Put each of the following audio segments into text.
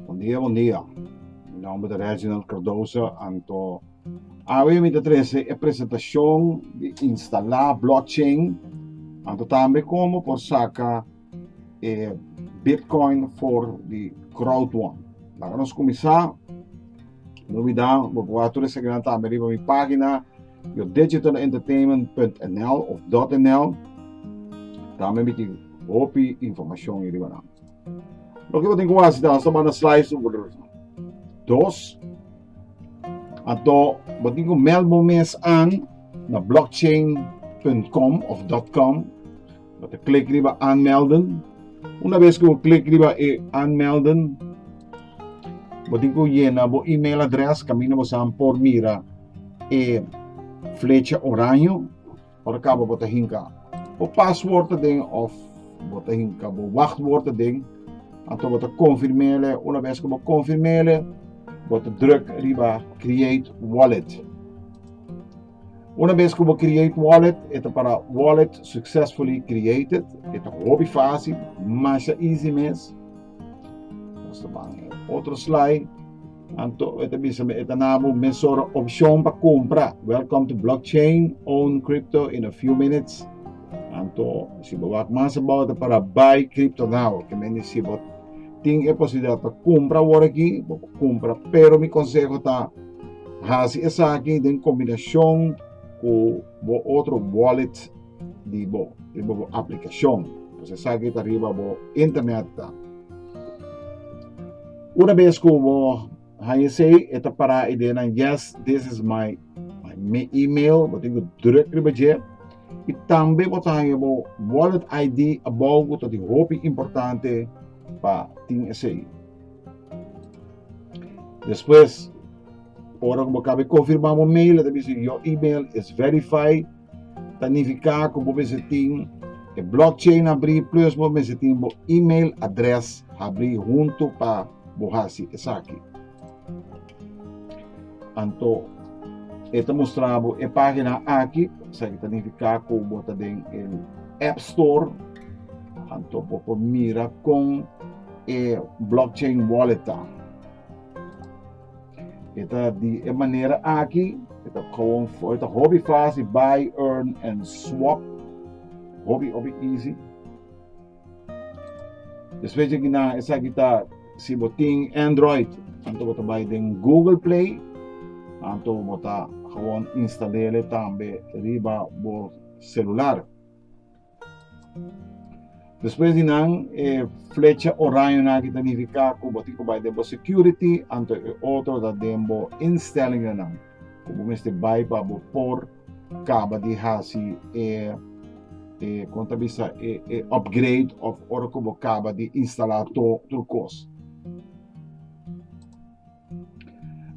Bon dia bon dia mi nomber ta Reginald Cardoso anto awe mi ta trese e presentashon di instala blockchain anto tambe komo por saka e Bitcoin for di crowd one. La ka nos kumisa, no olvida, bo proba tur esaki nan tambe riba mi pagina, yo digitalentertainment.nl of .nl, tambe miti hopi informacion i riba nan. Lo ki bo tin ku hasi ta hasta banda slice un bulur. Dos, anto bo tin ku mel bo mes an na blockchain.com of .com, Bo ta klik riba aanmelden. Una bes ku bo klik riba e aanmelden, bo tin ku yena bo email adres, kaminda bo san por mira e flecha oraño, ora kaba bo ta hinka bo pasword aden of bo ta hinka bo wachtword aden, anto bo ta konfirmele, una bes ku bo konfirmele, bo ta druk riba create wallet. Una bes ku bo create wallet, e ta para Wallet Successfully Created. E ta hopi fásil, masha easy mes. Nos ta ban e otro slide. Anto e ta bisa mi, e ta na bo mes ora opshon pa kompra. Welcome to blockchain, own crypto in a few minutes. Anto si bo wak mas abao ta para Buy Crypto Now, ke men di si bo tin e posibilidat pa kompra awor aki, bo por kompra. Pero mi konseho ta. Hasi esaki den kombinashon ku bo otro wallet di bo, riba bo aplikashon. Pues esaki ta riba bo internet ta. Una bes ku bo haya sei, e ta para i dena yes, this is my my email, bo tin ku druk riba dje. I tambe bo ta haya bo wallet ID abou ku ta di hopi importante pa tin esei. Despues, ora ku bo kabe konfirmá bo mail, e ta bisa your email is verified. Ta nifiká ku bo mester tin e blockchain abrí plus bo mester tin bo email adrès abrí huntu pa bo hasi esaki. Anto e ta mustra bo e página aki, sa ta nifiká ku bo ta den e App Store, anto bo por mira kon e blockchain wallet ta. Eta di e manera aki, eta gewoon eta hobby fácil buy, earn and swap. Hobby hobby easy. Después de na esa aquí ta si botín Android, anto bota buy den Google Play, anto bota gewoon instalele tambe riba bo celular. Despues di nan e flecha orañonan aki ta nifiká ku bo tin ku bai den bo security anto e otro ta den bo instellingennan ku bo mester bai pa bo por kaba di hasi e e kon ta bisa e e upgrade òf ora ku bo kaba di instalá tur tur kos.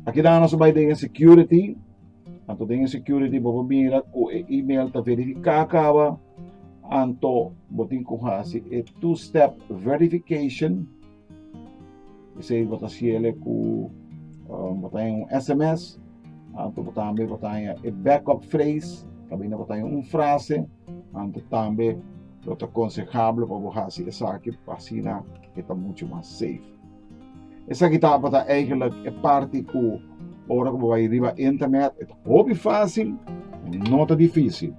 Aki dan nos a bai den e security. Anto den e security bo por mira ku e email ta verifiká kaba. Anto bo tin ku hasi e two step verification. Esei bo ta hasiel ku um, bo ta haña un sms. Anto bo tambe bo ta haña e backup phrase. Kaminda bo ta haña un frase. Anto tambe lo ta konsehable pa bo hasi esaki pa asina e ta muchu mas safe. Esaki tabata eigenlijk e parti ku ora ku bo bai riba internet e ta hopi fásil, no ta difísil.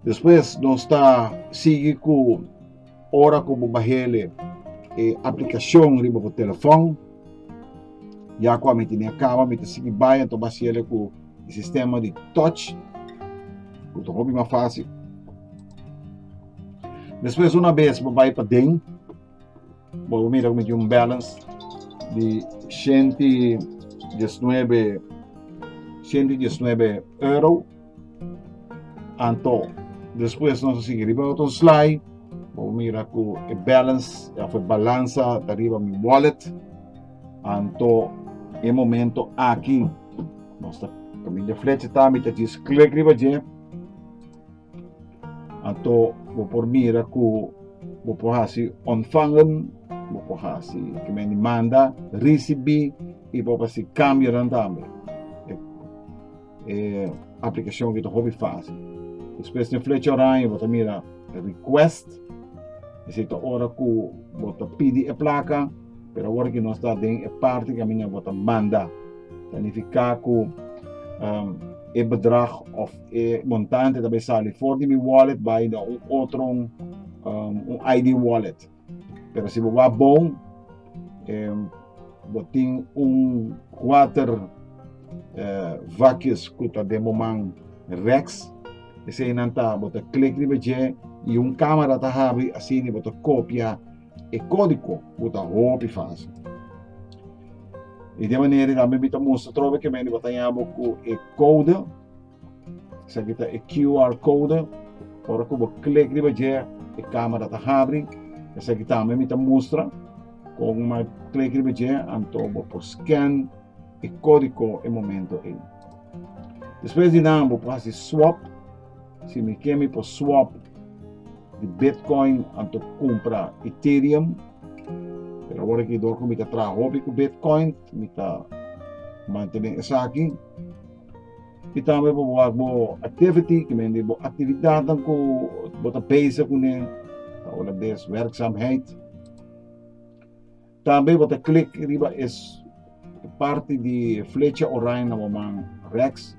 Despues nos ta sigui ku ora ku bo bahele e aplikashon riba bo telefòn, ya ku ami tene akaba, mi ta sigui bai anto mi a hasiele ku e sistema di touch ku ta hopi mas fásil. Despues una bes bo bai paden bo a mira cu mi tin un balance di shenti diesnuebe shenti diesnuebe euro anto despues nos a sigui riba otro slide bo a mira cu e balance of e balansa ta riba mi wallet anto e momento aki nos ta caminda flecha ta mi ta djis click riba dje. Anto bo por mira ku bo por hasi ontvangen, bo por hasi ke men di manda, risibí i bo por hasi kambionan tambe. E, e aplikashon aki ta hopi fásil. Despues den flecha oraña bo ta mira Request, esei ta ora ku bo ta pidi e plaka, pero awor aki nos ta den e parti kaminda bo ta manda. Ta nifiká ku e bedrag òf E montante ta bay sali for di mi wallet bay na un otron um, un ID wallet. Pero si bo wa bon, eh, bo tin un water eh, vacuous ku ta den bo man Rex. Ese nan ta bo ta klik riba dje i un kamera ta habri asini bo ta kopia e kódigo ku ta hopi fásil. I de manera tambe mi ta mustra trobe kemen di bo ta yaña bo ku e kode Esaki ta e QR code, ora ku bo klik riba dje e kamera ta habri, esaki tambe mi ta mustra kon mi klik riba dje anto bo por skèn e kódiko e momento ei. Despues di nan bo por hasi swòp, si mi ke mi por swòp di Bitcoin anto kumpra Ethereum, pero awor aki dor ku mi ta traha hopi ku Bitcoin mi ta mantene esaki. I tambe pa bo wak bo activity, ke men di bo aktividatnan ku bo ta bezig kuné, ta Holandes werkzaamheid. Tambe bo ta klik riba es parti di flecha orain na bo man reks,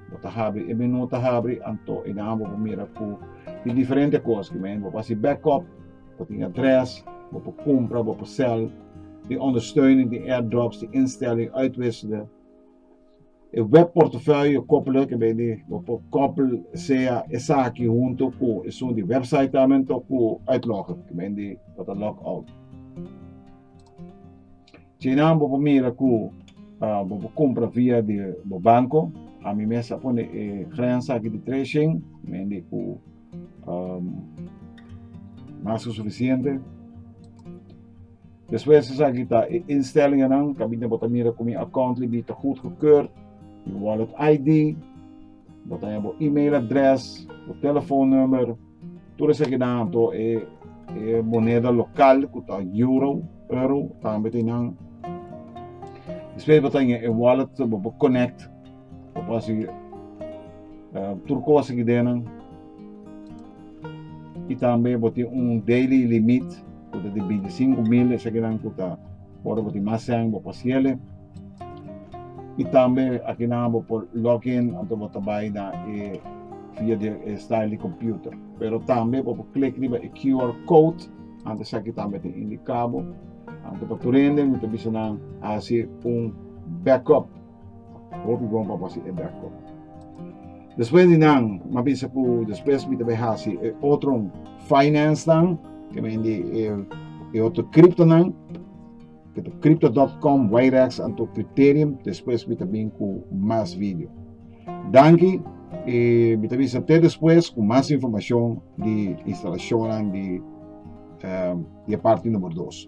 bo ta habri e menú ta habri, anto einan bo por mira ku tin diferente kos ke men bo por hasi backup, bo tin adres, bo por kumpra, bo por sèl, tin ondersteuning, tin airdrops, tin instelling, uitwisselen. E web portafolio koppelen ke bay di bo por koppel sea esaki hunto ku esun di website tamen to ku uitloggen ke bay di bo ta log out. China bo por mira ku uh, bo por compra via di bo banco. A mi mes a pone e grens aki di tracing, men di ku mas ku sufisiente despues esaki ta e instellingennan kabit'ne bo ta mira ku mi account libi ta goedgekeurd mi wallet ID bo ta hab bo email address bo telefon number tur esakinan anto e e moneda lokal ku ta euro euro tambe ta nan despues bo ta e wallet bo konekt Ta fasi tur cosa ki den nan y tambe bo tin un daily limit cu ta di binti sinku mil esaki nan cu ta ora bo tin mas seng bo por hasiele y tambe aki nan bo por log in anto bo ta bay na e via di e style di computer pero tambe bo por click riba e QR code anto esaki tambe ta indica bo anto pa tur hende mi ta bisa nan hasi un backup. Hopi bon pa pasi e bèk kòp. Despues di nan, mi a pensa ku despues mi ta bai hasi e otro finansnan, ke mendi e, e otro kriptonan, ke ta crypto.com, Wirex, anto Crypterium, despues mi ta bin ku mas video. Danki, e mi ta bisa te despues ku mas informashon di instalashonnan di, eh, di e parti numero dos.